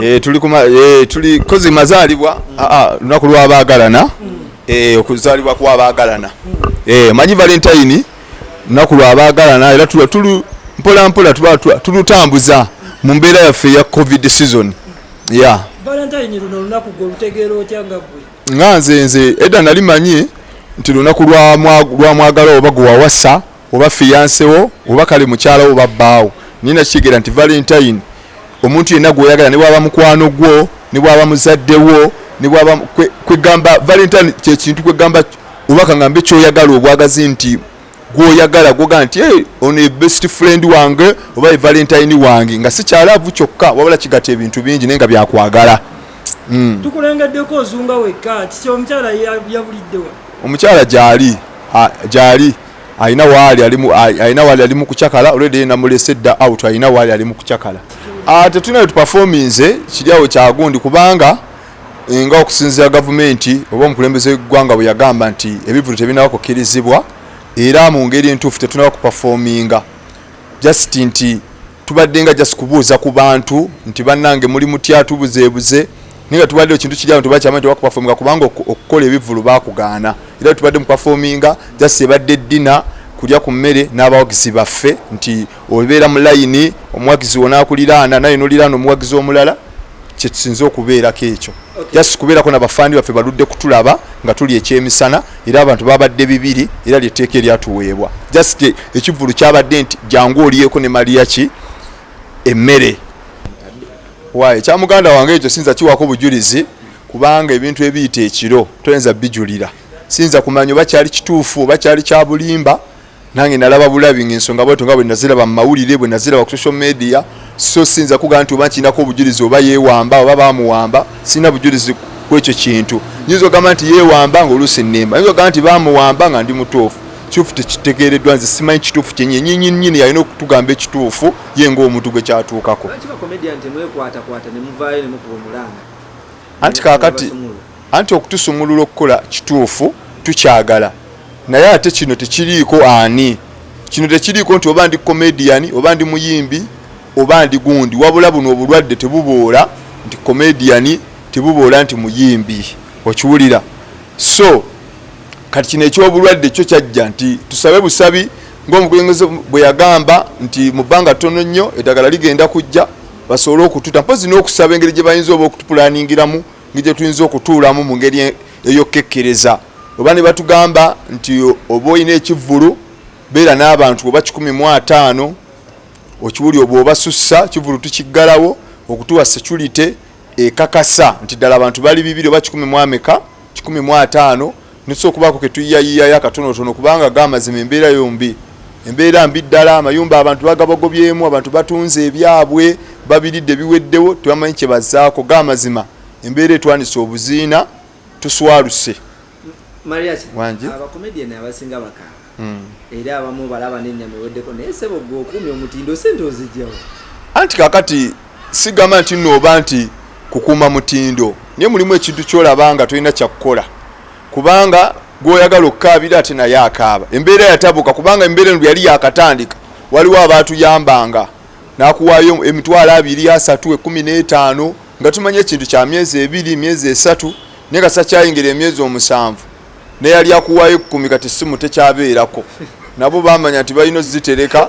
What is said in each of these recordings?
Eh, tuli kuma eh, tuli kozi mazalibwa mm. ah, ah, lunaku lwabagalana mm. eh, okuzalibwa kwabagalana mm. manyi valentine lunaku lwabagalana era tulu mpola mpola tulutambuza mu mbeera yaffe ya covid season ya nga nze nze edda nali manyi nti lunaku lwamwagala oba gwewawasa oba fiyanse wo oba kale mukyala oba bbaawo naye nakitegeera nti valentine omuntu yenna gweyagala ne bwaba mukwano gwo ne bwaba muzadde wo ne bwaba kwegamba valentine kyekintu kwegamba oba kangambe kyoyagala obwagazi nti gwoyagala gwoga nti hey, ono ebest friend wange oba evalentine wange nga sikyalaavu kyokka wabula kigata ebintu bingi naye nga byakwagala mm. tukulengeddeko ozunga wekka kiki omukyala yabuliddewa omukyala gyali gyali alina waali alimu alina waali alimu kucakala olwedde yena mulese dda out alina waali alimu kucakala ah, tetulina wetupafominze kiri awo kyagundi kubanga eh, nga okusinzira gavumenti oba omukulembeze wegwanga bwe yagamba nti ebivulu tebinaba kukirizibwa era mu ngeri entuufu tetunaba kupafominga just nti tubadde nga just kubuuza ku bantu nti bannange muli mutya tubuzeebuze naye nga tubadde ekintu kiri awo tebakyamanyi tebakupafominga kubanga okukola ebivulu bakugaana era tubadde mupafominga just ebadde eddina kulya ku mmere n'abawagizi baffe nti obeera mu layini omuwagizi wonaakuliraana naye noliraana omuwagizi omulala kyetusinze okubeerako ekyo just kubeerako nabafandi baffe baludde kutulaba nga tuli ekyemisana era abantu babadde bibiri era lyetteeka eryatuweebwa just ekivulu kyabadde nti jangu oliyeko ne maliya ki emmere waye kyamuganda wange ekyo sinza kiwako bujulizi kubanga ebintu ebiyita ekiro toyinza bijulira sinza kumanya oba kyali kituufu oba kyali kyabulimba nange nalaba bulabi ngensonga bwetyo nga bwenaziraba mu mawulire bwenaziraba ku social media so siyinza kugaa nti oba nkirinako obujulizi oba yewamba oba bamuwamba sirina bujulizi kwekyo kintu nyinza ogamba nti yewamba nga oluusi nimba nyinza ogamba nti bamuwamba nga ndi mutuufu kituufu tekitegeereddwa nze simanyi kituufu kyenyi enyinyinnyini yalina okutugamba ekituufu ye ngaomuntu gwe kyatuukako anti kakati Anti okutusumulula okukola kituufu tukyagala naye ate kino tekiriiko ani kino tekiriiko nti oba ndi comedian oba ndi muyimbi oba ndi gundi wabula buno obulwadde tebuboola nti comedian tebuboola nti muyimbi okiwulira so kati kino ekyobulwadde kyo kyajja nti tusabe busabi ngaomukulembeze bwe yagamba nti mu bbanga ttono nnyo eddagala ligenda kujja basobole okututa mpozi n'okusaba engeri gye bayinza oba okutupulaningiramu ngi gye tuyinza okutuulamu mu ngeri e-, ey'okukekkereza oba ne batugamba nti oba olina ekivvulu beera n'abantu oba kikumi mu ataano okiwuli obwa obasussa kivulu tukiggalawo okutuwa security ekakasa nti ddala abantu bali bibiri oba kikumi mu ameka kikumi mu ataano Nituse okubaako ke tuyiyayiyayo akatonotono kubanga ag'amazima embeera yombi embeera mbi ddala amayumba abantu bagabagobyemu abantu batunze ebyabwe babiridde biweddewo tebamanyi kye bazaako g'amazima embeera etwanise obuziina tuswaluse wangi abakomediyani abasinga bakaaba hmm. era abamu balaba nenyama eweddeko naye sebo gwe okuumya omutindo sente ozijjawo anti kakati sigamba nti nooba nti kukuuma mutindo naye mulimu ekintu kyolaba nga tolina kyakukola kubanga gwoyagala okukaabira ate naye akaaba embeera yatabuka kubanga embeera eno yali yakatandika waliwo abaatuyambanga nakuwaayo emitwalo abiri asatu ekumi n'etaano nga tumanya ekintu kya myezi ebiri myezi esatu naye nga sakyayingira emyezi omusanvu neyali akuwaayo ekkumi kati simu tekyabeerako nabo bamanya nti balina ozitereka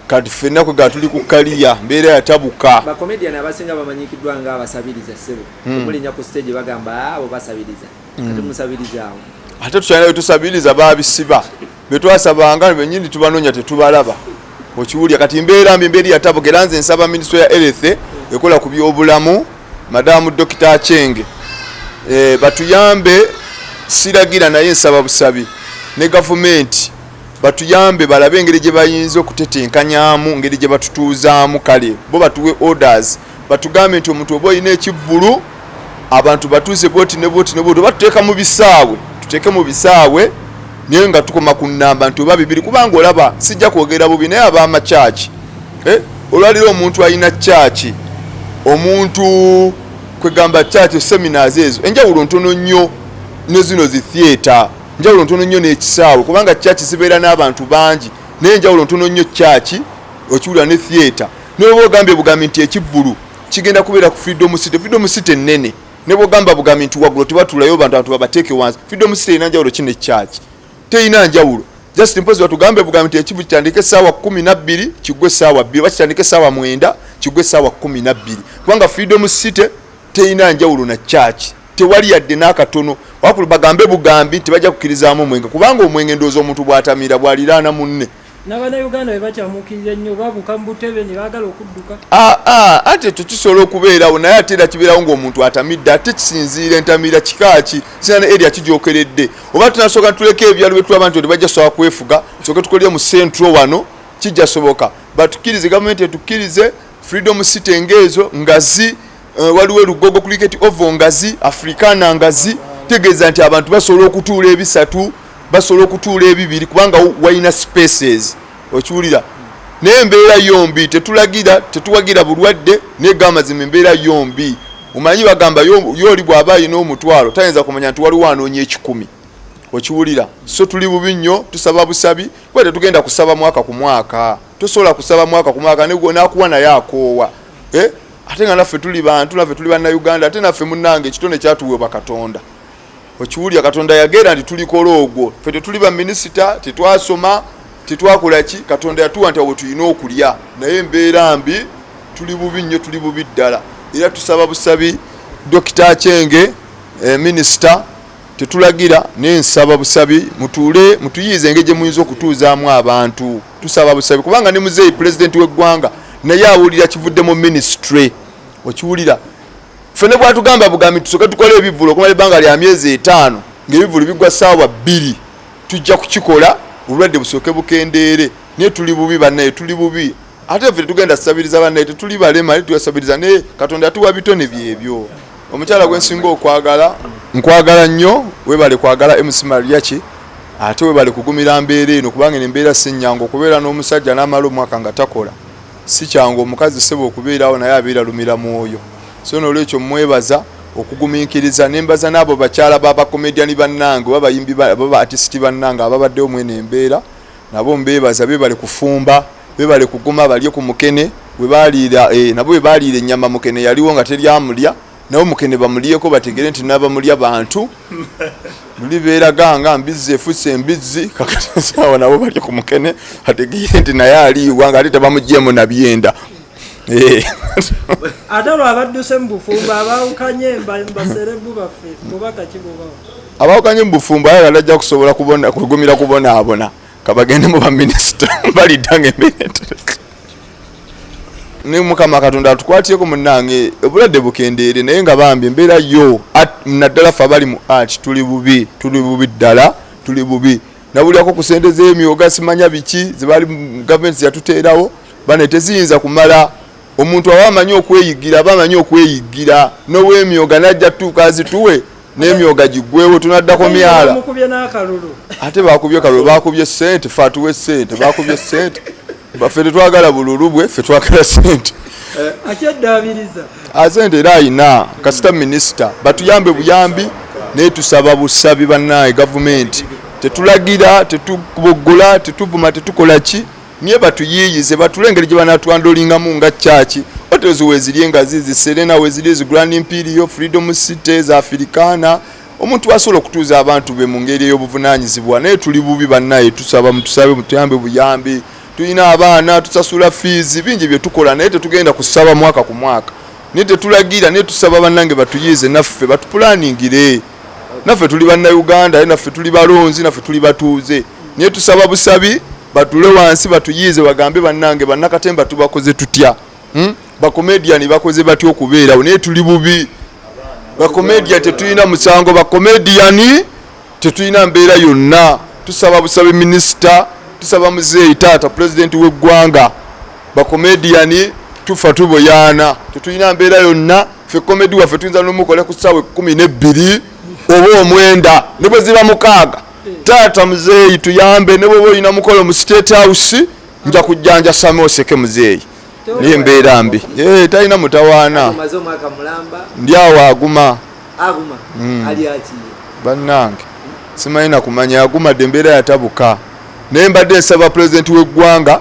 kati fenna kwe gatuli ku kaliya mbeera yatabuka bakomedian abasinga bamanyikiddwa nga abasabiriza sebo hmm. omulinya ku stage bagamba ah, abo basabiriza kati hmm. musabiriza awo ate tukyalina wetusabiriza babisiba betwasabanga benyini tubanonya tetubalaba okiwulya kati mbeera mbi mbeeri yatabuka era nze nsaba minisito ya erethe ekola ku byobulamu madamu dokita achenge e, batuyambe siragira naye nsaba busabi ne gavumenti batuyambe balabe engeri gye bayinza okutetenkanyamu ngeri gye batutuuzaamu kale bo batuwe orders batugambe nti omuntu oba olina ekivvulu abantu batuuze bwoti ne bwoti ne bwoti oba tuteeka mu bisaawe tuteeke mu bisaawe naye nga tukoma ku nnamba nti oba bibiri kubanga olaba sijja kwogera bubi naye abaama kyaki eh? olwalira omuntu alina kyaki omuntu kwegamba kyaki seminars ezo enjawulo ntono nnyo ne zino zi theatre njawulo ntono nnyo n'ekisaawe kubanga kyaki zibeera n'abantu bangi naye enjawulo ntono nnyo kyaki okiwulira ne theatre Noba ogambye bugambi nti ekivvulu kigenda kubeera ku Freedom City. Freedom City nnene. Ne bwogamba bugambi nti waggulu tebatulayo bantu abantu babateeke wansi. Freedom City erina njawulo ki ne church? Terina njawulo. Just mpozi batugambe bugambi nti ekivvulu kitandike essaawa kkumi na bbiri kiggwe essaawa bbiri oba kitandike essaawa mwenda kiggwe essaawa kkumi na bbiri kubanga Freedom City terina njawulo na church. Tewali yadde n'akatono wakulu bagambe bugambi nti bajja kukirizaamu omwenge kubanga omwenge ndowooza omuntu bw'atamira bw'aliraana munne. n'abannayuganda bwe bakyamuukirira ennyo babuuka mu butebe ne baagala okudduka ah, ah, ate ekyo kisobola okubeerawo naye ate era kibeerawo ng'omuntu atamidde ate kisinziira entamiira kika ki sina ne eria kijokeredde oba tunasooka ntuleka ebyalo bye tulaba nti bajja sobola kwefuga soke tukolere mu centro wano kijja soboka batukkirize gavumenti etukkirize freedom city ng'ezo nga zi Eh, waliwo elugogo cricket ovo ngazi africana ngazi tegeeza nti abantu basobola okutuula ebisatu basobola okutuula ebibiri kubanga walina spaces okiwulira naye embeera yombi tetulagira tetuwagira bulwadde naye gamazima embeera yombi omanyi bagamba yooli bw'aba alina omutwalo tayinza kumanya nti waliwo anoonya ekikumi okiwulira so tuli bubi nnyo tusaba busabi kuba tetugenda kusaba mwaka ku mwaka tosobola kusaba mwaka ku mwaka nakuwa naye akoowa eh? ate nga naffe tuli bantu naffe tuli bannayuganda ate naffe munange ekitone kyatuweebwa katonda okiwulira katonda yageera nti tulikola ogwo fe tetuli baminisita tetwasoma tetwakola ki katonda yatuwa nti awo tulina okulya naye embeera mbi tuli bubi nnyo tuli bubi ddala era tusaba busabi dokita kyenge eh, minisita tetulagira naye nsaba busabi mutuule mutuyiize engeri gye muyinza okutuuzaamu abantu tusaba busabi kubanga ne muzeeyi pulezidenti w'eggwanga naye awulira kivudde mu minisitule okiwulira ffe ne bwatugamba bugambi tusoke tukole ebivulu okumala ebbanga lya myezi etaano ng'ebivulu bigwa saawa bbiri tujja kukikola obulwadde busooke bukendeere naye tuli bubi bannaye tuli bubi ate ffe tetugenda tusabiriza bannaye tetuli balema naye tuyasabiriza naye katonda yatuwa bitone byebyo omukyala gwensinga okwagala nkwagala nnyo webale kwagala mc mariachi ate webale kugumira mbeera eno kubanga eno embeera si nnyangu okubeera n'omusajja n'amala omwaka nga takola si kyangu omukazi seba okubeerawo naye abeera lumira mwoyo so noolwekyo mwebaza okugumiikiriza nembaza n'abo bakyala babakomediani bannange oba bayimbi baba atisiti bannange ababaddewo mweno embeera Nabo mbebaza bebale kufumba bebale kuguma balye ku mukene webaliira eh, nabo webaliira ennyama mukene yaliwo nga teri amulya nabo mukene bamulyeko bategere nti nabamulya bantu luli beeraga nga mbizzi efusse embizzi kakatisawa nabo balye ku mukene ategere nti naye aliiwa nga ate tebamugyemu nabyenda eh. ate olwabadduse mu bufumbo abawukanye mbaserebu baffe kubakakibubao abawukanye mu bufumbo ayagala ajja kusobola kwegumira kubonaabona kabagende mu baminisita balidda ngaembeera ne mukama katonda atukwatireko munange obulwadde bukendeere naye nga bambi embeera yo naddala fe abali mu art tuli bubi tuli bubi ddala tuli bubi nabulirako ku sente zemyoga simanya biki zebali gavumenti zeyatuteerawo bane teziyinza kumala omuntu awa amanyi okweyiggira aba amanyi okweyiggira nowemyoga najja tutuuka azituwe nemyoga gigwewo tunaddako myala ate bakubye kalulu bakubye sente fe atuwe sente bakubye sente fe tetwagala bululu bwe fe twagala sente asente eh, era ayina kasita minisita batuyambe buyambi naye tusaba busabi bannaye gavumenti tetulagira tetuboggola tetuvuma tetukola ki nye batuyiyize batule engeri gye banatwandolingamu nga kyaki hotels weziri engazi ziserena weziri zigrand imperial freedom city za afirikaana omuntu asobola okutuuza abantu be mu ngeri ey'obuvunanyizibwa naye tuli bubi bannaye tusaba mutusabe mutuyambe buyambi tulina abaana tusasula fiizi bingi bye tukola naye tetugenda kusaba mwaka ku mwaka naye tetulagira naye tusaba bannange batuyiize naffe batupulaningire naffe tuli bannauganda naye naffe tuli balonzi naffe tuli batuuze naye tusaba busabi batule wansi batuyiize bagambe bannange bannakatemba tubakoze tutya hmm? bakomediyani bakoze batya okubeerawo naye tuli bubi bakomediya tetulina musango bakomediyani tetulina mbeera yonna tusaba busabi minisita tusaba muzeeyi taata pulezidenti w'eggwanga bakomediyani tufa tuboyaana tetulina mbeera yonna fe komedi waffe tuyinza nomukola ku ssaawa ekumi nebbiri oba omwenda ne bwe ziba mukaaga taata muzeeyi tuyambe ne bwoba olina mukolo mu state house nja kujjanja same oseke muzeeyi naye mbeera mbi eh, talina mutawaana ndi awo aguma hmm. bannange simanyi nakumanya agumadde embeera yatabuka naye mbadde nsaba pulezidenti w'eggwanga